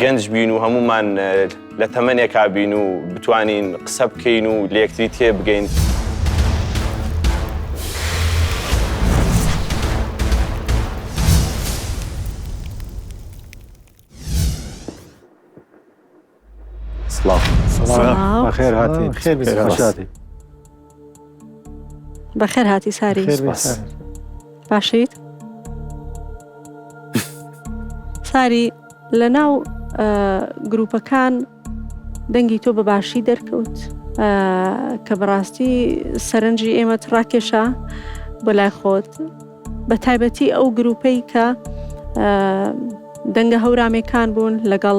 گەنج بین و هەمومان لە تەمەنێکا بین و بتوانین قسە بکەین و لەکتری تێ بگەین. سڵاو سڵاو بەخێر هاتیت بەخێر بێی خۆش هاتیت. بەخێر هاتی ساری خێر بێ سپاس. سارا. باشیت ساری لە ناو ئە، گروپەکان دەنگی تۆ بە باشی دەرکەوت ئە، کە بەڕاستی سەرنجی ئێمەت ڕاکێشا بۆ لای خۆت بە تایبەتی ئەو گروپەی کە ئە، دەنگە هەورامێکان بوون لەگەڵ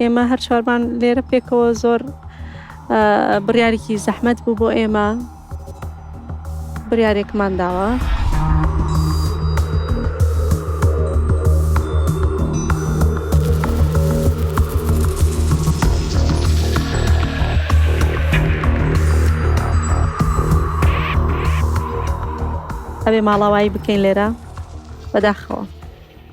ئێمە هەر چوارمان لێرە پێکەوە زۆر بڕیارێکی زەحمەت بوو بۆ ئێمە بڕارێکمان داوە. ئەبێ ماڵاوایی بکەین لێرە بەداخەوە.